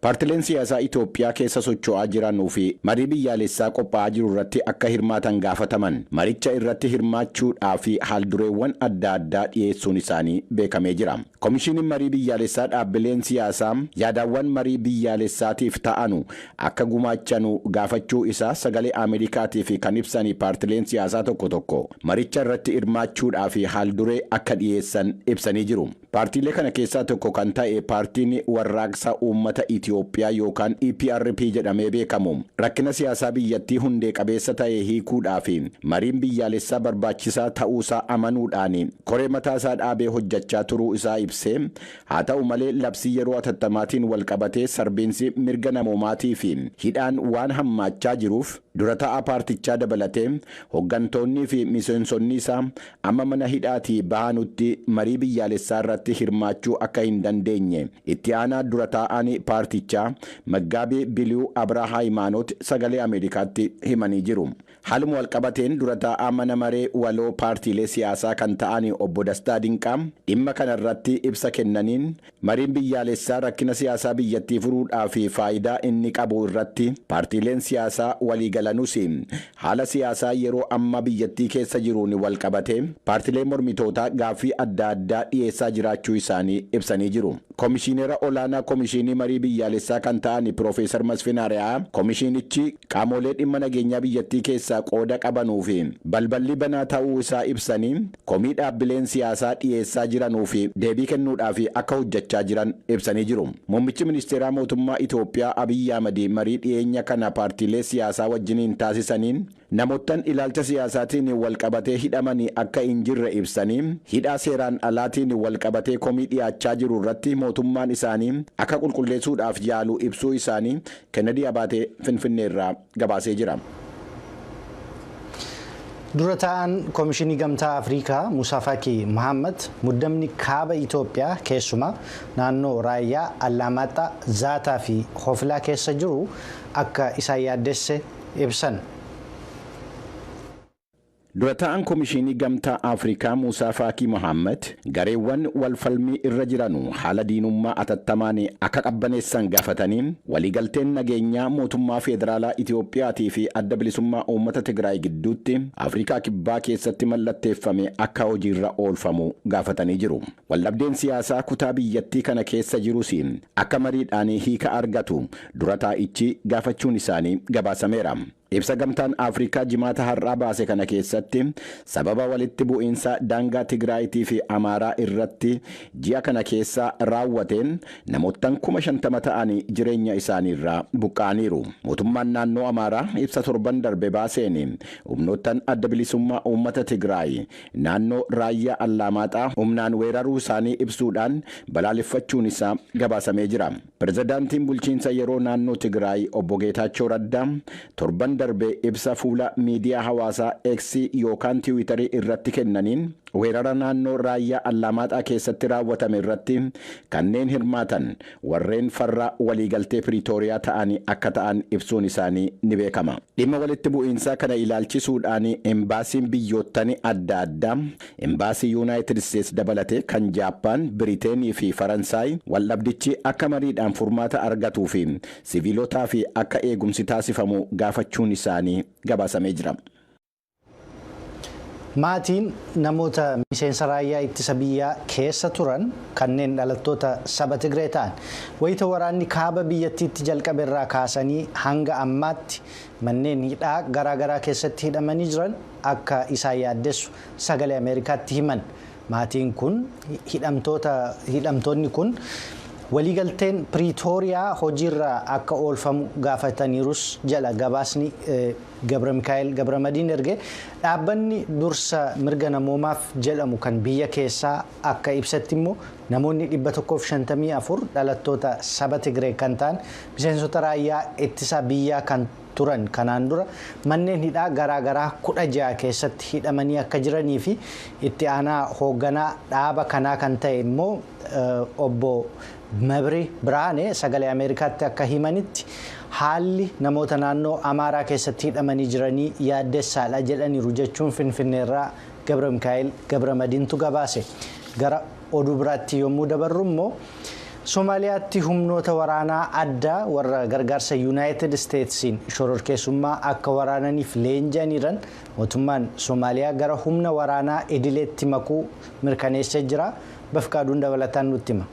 Paartileen siyaasaa Itoophiyaa keessa socho'aa jiranuu fi marii biyyaalessaa qophaa'aa jiru irratti akka hirmaatan gaafataman maricha irratti hirmaachuu dhaa fi haaldureewwan adda addaa dhiyeessuun isaanii beekamee jira. Komishiiniin Marii Biyyaalessaa dhaabbileen siyaasaa yaadaawwan marii biyyaalessaatiif ta'anu akka gumaachanu gaafachuu isaa Sagalee Ameerikaatiif kan ibsani paartileen siyaasaa tokko tokko maricha irratti hirmaachuu dhaa fi haalduree akka dhiyeessan ibsanii jiru. Paartiilee kana keessaa tokko kan ta'e Paartiin Warraaqsa Uummata Itiyoophiyaa yookaan EPRP jedhamee beekamu rakkina siyaasaa biyyattii hundee qabeessa ta'e hiikuudhaaf mariin biyyaalessaa barbaachisaa ta'uusaa amanuudhaan koree mataasaa dhaabee hojjechaa turuu isaa ibsee, haa ta'u malee labsii yeroo atattamaatiin walqabatee sarbiinsi mirga namoomaatii fi hidhaan waan hammaachaa jiruuf dura taa'aa paartichaa dabalatee hoggantoonnii fi miseensonni isaa amma mana hidhaatii bahanutti marii biyyaalessaa irratti hirmaachuu akka hin dandeenye itti aanaa dura taa'aan paartichaa Maggaabii Biliwu Abraa Haayimaanoot sagalee Ameerikaatti himanii jiru. Haaluma walqabateen dura taa'aa mana maree waloo paartiilee siyaasaa kan ta'aan obbo Dastaa Dinqaa dhimma kana irratti ibsa kennaniin Mariin biyyaalessaa rakkina siyaasaa biyyattii furuudhaaf faayidaa inni qabu irratti paartiileen siyaasaa waliigalanus, haala siyaasaa yeroo ammaa biyyattii keessa jiruun walqabatee paartileen mormitootaa gaaffii adda addaa dhiyeessaa jiraachuu isaanii ibsanii jiru. Komishiinera Olaanaa Komishiinii Marii Biyyaalessaa kan ta'an Piroofeesar Masfin Ari'aa, komishiinichi, qaamoolee dhimma nageenyaa biyyattii keessaa qooda qabanuu fi balballi banaa ta'uu isaa ibsanii, komii dhaabbileen siyaasaa dhiyeessaa jiranuu fi deebii kennuudhaaf akka hojjachaa jiran ibsanii jiru. Muummichi Ministeeraa Mootummaa Itoophiyaa Abiy Ahmad marii dhiyeenya kana paartiilee siyaasaa wajjiniin taasisaniin namoottan ilaalcha siyaasaatiin wal qabatee hidhaman akka hin jirre ibsanii, hidhaa seeraan alaatiin wal qabatee komii dhiyaachaa jiru irratti mootummaan isaanii akka qulqulleesuudhaaf yaalu ibsuu isaanii Kennedy Abaatee Finfinnee irraa gabaasee jira. Dura taa'aan Komishinii Gamtaa Afriikaa Musaa Faki Mahaammad muddamni kaaba Itoophiyaa keessumaa naannoo Raayyaa, Allaamaaxxaa, Zaataa fi Hofilaa keessa jiru akka isaan yaaddesse ibsan. Dura taa'aan Komishiinii Gamtaa Afrikaa Muusaa Faakii Mohaammad gareewwan wal falmii irra jiranu haala diinummaa atattamaan akka qabbaneessan gaafatanii, waliigalteen nageenyaa mootummaa feederaalaa Itoophiyaatii fi Adda Bilisummaa Uummata Tigraay gidduutti Afrikaa Kibbaa keessatti mallatteeffame akka hojiirra oolfamu gaafatanii jiru. Waldhabdeen siyaasaa kutaa biyyattii kana keessa jirus akka mariidhaan hiika argatu dura taa'ichi gaafachuun isaanii gabaasameera. Ibsa Gamtaan Afrikaa Jimaata har'aa baase kana keessatti, sababa walitti bu'iinsa daangaa Tigraayitii fi Amaaraa irratti ji'a kana keessa raawwateen namoottan 50,000 ta'an jireenya isaaniirraa buqqa'aniiru. Mootummaan naannoo Amaaraa ibsa torban darbe baaseen, humnoottan Adda Bilisummaa Uummata Tigraay naannoo Raayyaa Allaamaaxaa humnaan weeraruu isaanii ibsuudhaan balaaleffachuun isaa gabaasamee jira. Pirezidaantiin Bulchiinsa Yeroo Naannoo Tigiraay Obbo Geetaachoo Raddaa torban darbe ibsa fuula miidiyaa hawaasaa X yookaan Tiwiitarii irratti kennaniin, weerara naannoo Raayyaa Allaamaaxaa keessatti raawwatame irratti kanneen hirmaatan warreen farra waliigaltee Piriitooriyaa ta'ani akka ta'an ibsuun isaanii ni beekama. Dhimma walitti bu'iinsaa kana ilaalchisuudhaan Embaasiin biyyoottani adda addaa Imbaasii Yuunaayitid Isteets dabalatee kan Jaappaan, Biriteen fi Faransaay waldhabdichi akka mariidhaan furmaata argatuu fi siviilotaaf akka eegumsi taasifamu gaafachuun isaanii gabaasamee jira. Maatiin namoota miseensa raayyaa ittisa biyyaa keessa turan kanneen dhalattoota saba Tigree ta'an wayita waraanni kaaba biyyattiitti jalqabe irraa kaasanii hanga ammaatti manneen hidhaa garaagaraa keessatti hidhamanii jiran akka isaan yaaddessu Sagalee Ameerikaatti himan. Maatiin kun hidhamtoonni kun waliigalteen Piriitooriyaa hojiirra akka oolfamu gaafataniirus jedha gabaasni Gabramikaa'el Gabramadiin erge. Dhaabbanni dursa mirga namoomaaf jedhamu kan biyya keessaa akka ibsetti immoo namoonni 154 dhalattoota saba Tigree kan ta'an miseensota raayyaa ittisa biyyaa kan turan kanaan dura manneen hidhaa garaa garaa 16 keessatti hidhamanii akka jiranii fi itti aanaa hoogganaa dhaaba kanaa kan ta'e immoo obbo Mabri Birhaane sagalee Ameerikaatti akka himanitti haalli namoota naannoo Amaaraa keessatti hidhamanii jiranii yaaddessaadha jedhaniiru jechuun Finfinneerraa Gabra Mikaa'el Gabra Madiintu gabaase. Oduu biraatti yommuu dabarru immoo Somaaliyaatti humnoota waraanaa addaa warra gargaarsa Yuunaayitid Isteetsiin shororkeessummaa akka waraananiif leenji'aniiran mootummaan Somaaliyaa gara humna waraanaa idileetti makuu mirkaneessee jira. Bafqaaduun dabalataan nutti hima.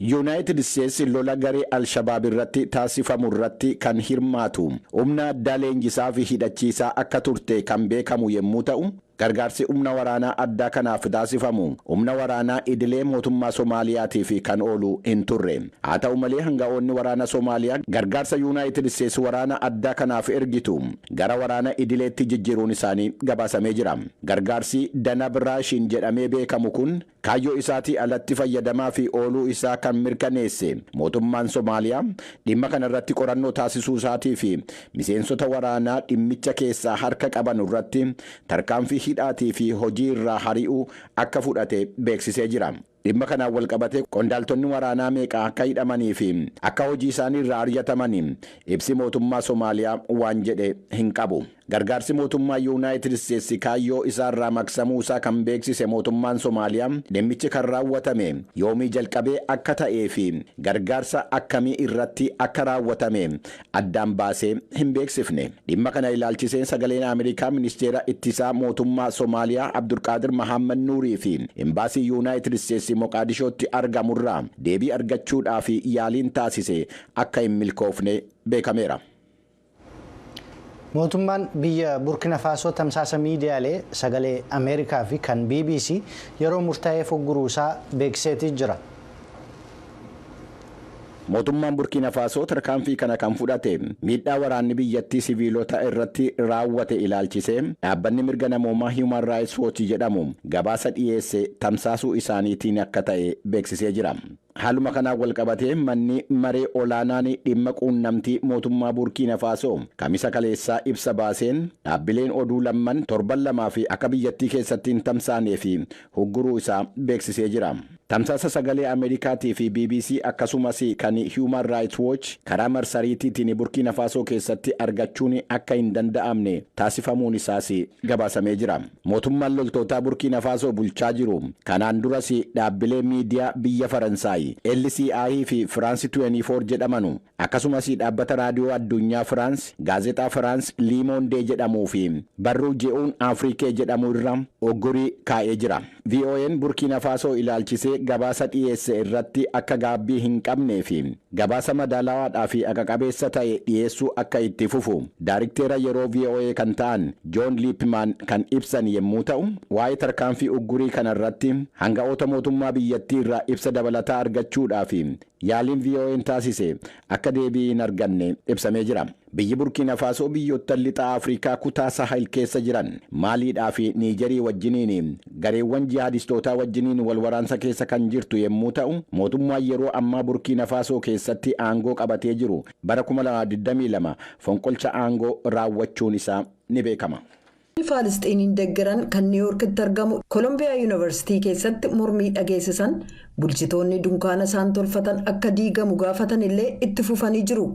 Yunaayitid Isteetsi lola garee al-Shabaab irratti taasifamu irratti kan hirmaatu humna addaa leenjisaa fi hidhachiisaa akka turte kan beekamu yemmuu ta'u, gargaarsi humna waraanaa addaa kanaaf taasifamu humna waraanaa idilee mootummaa Somaaliyaatiif kan oolu hin turre. Haa ta'u malee hanga'oonni waraana Somaaliyaa gargaarsa Yunaayitid Isteetsi waraana addaa kanaaf ergitu gara waraana idileetti jijjiiruun isaanii gabaasamee jira. Gargaarsi Danab Raashiin jedhamee beekamu kun Kaayyoo isaatii alatti fayyadamaafi ooluu isaa kan mirkaneesse mootummaan Somaaliyaa dhimma kana irratti qorannoo taasisuu isaatii fi miseensota waraanaa dhimmicha keessaa harka qabanu irratti tarkaanfii hidhaatii fi hojii irraa hari'uu akka fudhate beeksisee jira. Dhimma kanaan walqabatee qondaaltonni waraanaa meeqa akka hidhamanii fi akka hojii isaanii irraa aryatamani ibsi mootummaa Somaaliyaa waan jedhe hin qabu. Gargaarsi mootummaa Yuunaayitid Isteetsi kaayyoo isaa irraa maqsamuu isaa kan beeksise mootummaan Somaaliyaa dhimmichi kan raawwatame yoomii jalqabee akka ta'ee fi gargaarsa akkamii irratti akka raawwatame addaan baasee hin beeksifne. Dhimma kana ilaalchisee Sagaleen Ameerikaa Ministeera Ittisaa mootummaa Somaaliyaa Abdulqaadir Mahaammad Nuurii fi Imbaasii Yuunaayitid Isteetsi Moqaadishootti argamu irraa deebii argachuudhaaf yaaliin taasise akka hin milkoofne beekameera. Mootummaan biyya Burkina Faasoo tamsaasa miidiyaalee sagalee Ameerikaa fi kan BBC yeroo murtaa'eef ugguruu isaa beeksiseetii jira. Mootummaan Burkiina Faasoo tarkaanfii kana kan fudhate miidhaa waraanni biyyattii siviilota irratti raawwate ilaalchisee dhaabbanni mirga namoomaa Human Rights Watch jedhamu gabaasa dhiyeesse tamsaasuu isaaniitiin akka ta'e beeksisee jira. Haaluma kanaan walqabatee manni maree olaanaan dhimma quunnamtii mootummaa Buurkiina Faasoo Kamisa kaleessaa ibsa baaseen dhaabbileen oduu lamman torban lamaaf akka biyyattii keessatti hin tamsaaneef hugguruu isaa beeksisee jira. Tamsaasa sagalee Ameerikaatii fi bbc akkasumas kan Human Rights Watch karaa marsariitiitiin Burkiina Faasoo keessatti argachuun akka hin danda'amne taasifamuun isaas gabaasamee jira. Mootummaan loltootaa Burkiina Faasoo bulchaa jiru kanaan duras dhaabbilee miidiyaa biyya Faransaay LCI fi France 24 jedhamanu akkasumas dhaabbata raadiyoo adduunyaa Firaans, gaazexaa Firaans Liimoondee jedhamuu fi barruu Je'uun Afrikee jedhamu irra uggurii kaa'ee jira. VOAn Burkiina Faasoo ilaalchisee gabaasa dhiyeesse irratti akka gaabbii hin qabnee fi Gabaasa madaalawaadhaa fi aqa-qabeessa ta'e dhiyeessuu akka itti fufu daarikteera yeroo voa kan ta'an Joon Liipmaan kan ibsan yemmuu ta'u, waa'ee tarkaanfii uggurii kana irratti hanga'oota mootummaa biyyattii irraa ibsa dabalataa argachuudhaaf yaaliin VOAn taasise akka deebii hin arganne ibsamee jira. Biyyi Burkiina Faasoo biyyoottan Lixa Afrikaa kutaa Sahel keessa jiran Maaliidhaa fi Niijerii wajjiniin gareewwan jihaadistootaa wajjiniin wal waraansa keessa kan jirtu yemmuu ta'u, mootummaan yeroo ammaa Burkiina Faasoo keessatti aangoo qabatee jiru bara 2022 fonqolcha aangoo raawwachuun isaa ni beekama. Namoonni Faalisxiiniin deggeran kan Niiw Yoorkitti argamu Kolombiyaa Yuunivarsiitii keessatti mormii dhageessisan bulchitoonni dunkaana isaan tolfatan akka diigamu gaafatan illee itti fufanii jiru.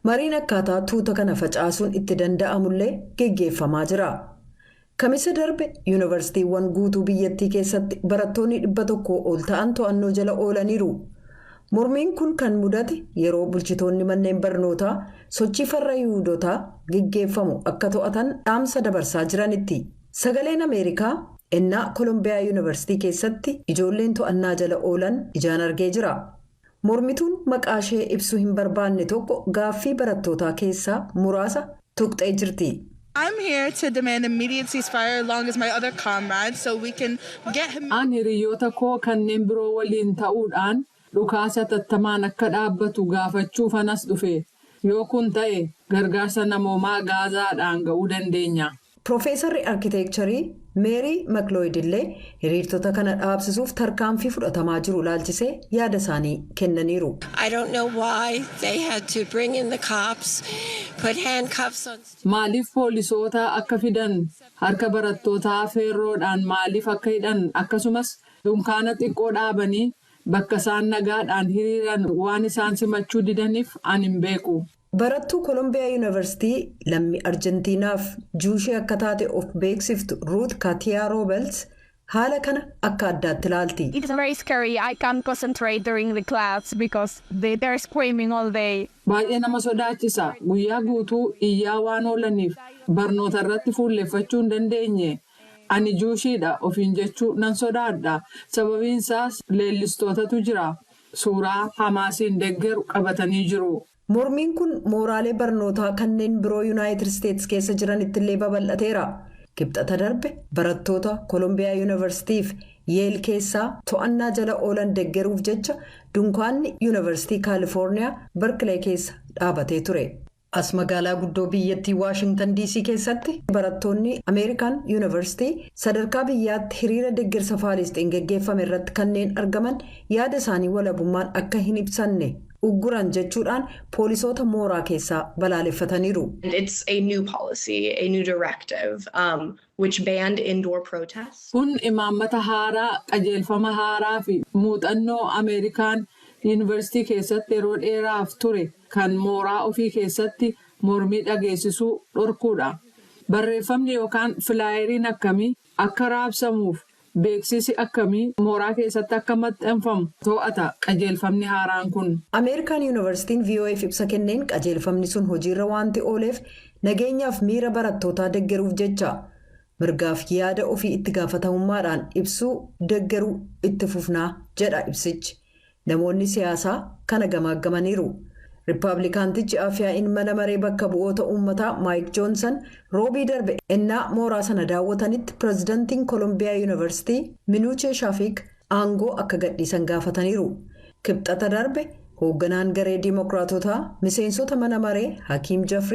Mariin akkaataa tuuta kana facaasuun itti danda'amu illee geggeeffamaa jira. Kamisa darbe Yuunivarsiitiiwwan guutuu biyyattii keessatti barattoonni 100 ol ta'an to'annoo jala oolaniiru. Mormiin kun kan mudate yeroo bulchitoonni manneen barnootaa sochii farra Yihuudotaa geggeeffamu akka to'atan dhaamsa dabarsaa jiranitti. Sagaleen Ameerikaa ennaa Kolombiyaa Yunivarsitii keessatti ijoolleen to'annaa jala oolan ijaan argee jira. Mormituun maqaashee ibsuu hin barbaanne tokko gaaffii barattootaa keessaa muraasa tuqxee jirti. I'm here to demand immediate ceasefire along as my other comrades so we can get him. An hiriyyoota koo kanneen biroo waliin ta'uudhaan dhukaasi hatattamaan akka dhaabbatu gaafachuufan as dhufe. Yoo kun ta'e gargaarsa namoomaa Gaazaadhaan ga'uu dandeenya. Pirofeesarri Arkiteekcharii Meerii Maklooyid illee hiriirtota kana dhaabsisuuf tarkaanfii fudhatamaa jiru ilaalchisee yaada isaanii kennaniiru. I don't know why they had to bring in the cops, put handcuffs on students. Maaliif poolisoota akka fidan, harka barattootaa feerroodhaan maaliif akka hidhan akkasumas dunkaana xiqqoo dhaabanii bakka isaan nagaadhaan hiriiran waan isaan simachuu didaniif ani hin beeku. Barattuu Kolombiyaa Yuunivarsitii lammii Arjentiinaaf Juushee akka taate of beeksiftu Ruut Katiyaa Roobels haala kana akka addaatti ilaalti. It's very scary. I can't concentrate during the class because they they're screaming all day. Baay'ee nama sodaachisa. Guyyaa guutuu iyyaa waan oolaniif barnoota irratti fuulleffachuu hin dandeenye. Ani Juushiidha ofiin jechuu nan sodaadha. Sababiin isaas leellistootatu jira. suuraa Hamaasiin deggeru qabatanii jiru. Mormiin kun mooraalee barnootaa kanneen biroo Yunaayitid Isteets keessa jiranittillee babal'ateera. Kibxata darbe barattoota Kolombiyaa Yunivarsitii fi Yeel keessaa to'annaa jala oolan deggeruuf jecha dunkaanni Yunivarsitii Kaalifoorniyaa Barkilee keessa dhaabatee ture. As magaalaa guddoo biyyattii Waashingtan DC keessatti barattoonni Ameerikaan Yuunivarsitii sadarkaa biyyaatti hiriira deggersa Faalisxiin geggeeffame irratti kanneen argaman yaada isaanii walabummaan akka hin ibsanne ugguran jechuudhaan poolisoota mooraa keessaa balaaleffataniiru. Kun imaammata haaraa, qajeelfama haaraa fi muuxannoo Ameerikaan Yuunivarsitii keessatti yeroo dheeraaf ture kan mooraa ofii keessatti mormii dhageessisuu dhorkuu dha. Barreeffamni yookaan filaayeriin akkamii akka raabsamuuf beeksisi akkamii mooraa keessatti akka maxxanfamu to'ata qajeelfamni haaraan kun. Ameerikaan Yuunivarsitiin VOA'f ibsa kenneen qajeelfamni sun hojiirra waanti ooleef nageenyaaf miira barattootaa deggeruuf jecha. Mirgaaf yaada ofii itti gaafatamummaadhaan ibsuu deggeruu itti fufna jedha ibsichi. Namoonni siyaasaa kana gamaaggamaniiru. Rippaablikaantichi Afyaa'iin Mana Maree Bakka Bu'oota Uummataa Maayik Joonsan Roobii darbe ennaa mooraa sana daawwatanitti Pirezidantiin Kolombiyaa Yuunivarsitii Minuuchee Shaafiik aangoo akka gadhiisan gaafataniiru. Kibxata darbe hoogganaan garee Diimokiraatotaa miseensota mana maree Hakiim Jafrii